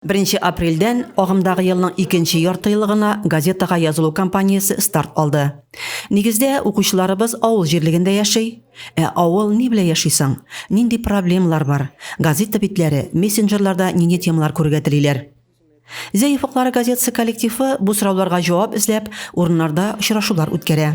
Беренче апрельдән агымдагы елның икенче яртыелыгына газетага язылу кампаниясе старт алды. Нигездә, укучыларыбыз авыл җирлегендә яши. Ә авыл ни белән яши соң? Нинди проблемалар бар? Газета битләре, мессенджерларда нинди темалар күрергә телиләр? Зәй офыклары газетасы коллективы бу сорауларга җавап эзләп, урыннарда очрашулар үткәрә.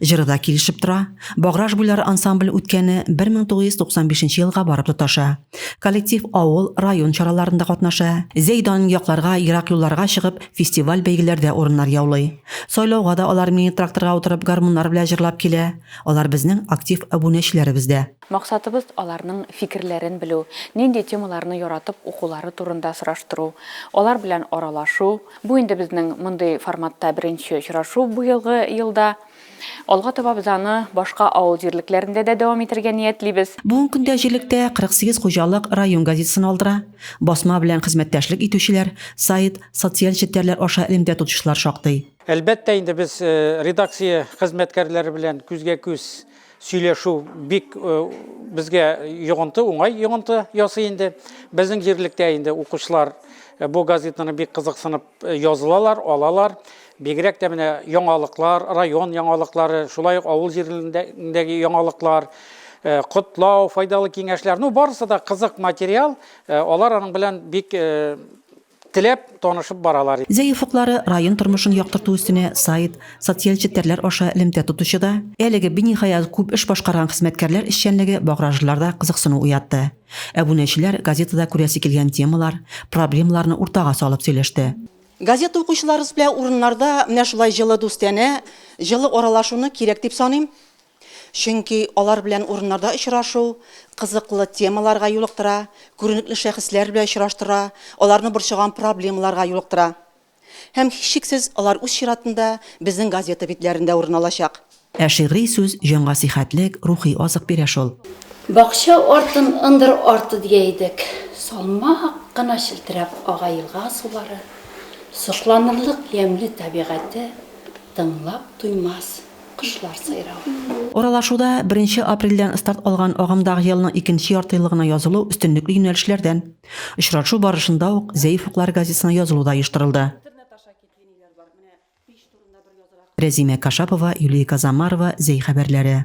Җыры да килешеп тора. Баграж буйлары ансамбль үткәне 1995 елга барып тоташа. Коллектив авыл, район чараларында катнаша. Зәйдан якларга, ерак юлларга чыгып, фестиваль-бәйгеләрдә урыннар яулый. Сайлауга да алар мини-тракторга утырып гармуннар белән җырлап килә. Алар безнең актив әбүнәчеләребез дә. Максатыбыз аларның фикерләрен белү, нинди темаларны яратып укулары турында сораштыру, алар белән аралашу, Бу инде безнең мондый форматта беренче очрашу быелгы елда. Алга таба без аны башка авыл җирлекләрендә дә дәвам итәргә ниятлибез. Бүгенге көндә җирлектә 48 хуҗалык район газетасын алдыра. Басма белән хезмәттәшлек итүчеләр, сайт, социаль челтәрләр аша элемтә тотучылар шактый. Әлбәттә инде без редакция хезмәткәрләре белән күзгә-күз сөйләшү бик э, безгә йогынты, уңай йогынты ясый инде. Безнең җирлектә инде укучылар э, бу газетаны бик кызыксынып э, язылалар, алалар. Бигрәк тә менә яңалыклар, район яңалыклары, шулай ук авыл җирендәге яңалыклар, котлау, файдалы киңәшләр. Ну, барысы да кызык материал. Алар аның белән бик Теләп, танышып баралар. Зәй офыклары район тормышын яктырту өстенә сайт, социаль челтәрләр аша элемтә тотучы да, әлеге биниһаять күп эш башкарган хезмәткәрләр эшчәнлеге багражлыларда кызыксыну уятты. Әбүнәчеләр газетада күрәсе килгән темалар, проблемаларны уртага салып сөйләште. Газета укучыларыбыз белән урыннарда менә шулай җылы дустанә, җылы аралашуны кирәк дип саныйм. Чөнки алар белән урыннарда очрашу кызыклы темаларга юлыктыра, күренекле шәхесләр белән очраштыра, аларны борчыган проблемаларга юлыктыра. Һәм, һичшиксез, алар үз чиратында безнең газета битләрендә урын алачак. Ә шигъри сүз җанга сихәтлек, рухи азык бирә шул. Бакча артын ындыр арты дия идек. Салмак кына челтерәп ага елга сулары, сокланырлык ямьле табигате, тыңлап туймас. Кошлар сайравы. Аралашуда беренче апрельдән старт алган агымдагы елның икенче яртыелыгына язылу өстенлекле юнәлешләрдән. Очрашу барышында ук Зәиф уклар газетасына язылу да оештырылды. Рәзимә Кашапова, Юлия Казамарова, Зәй хәбәрләре.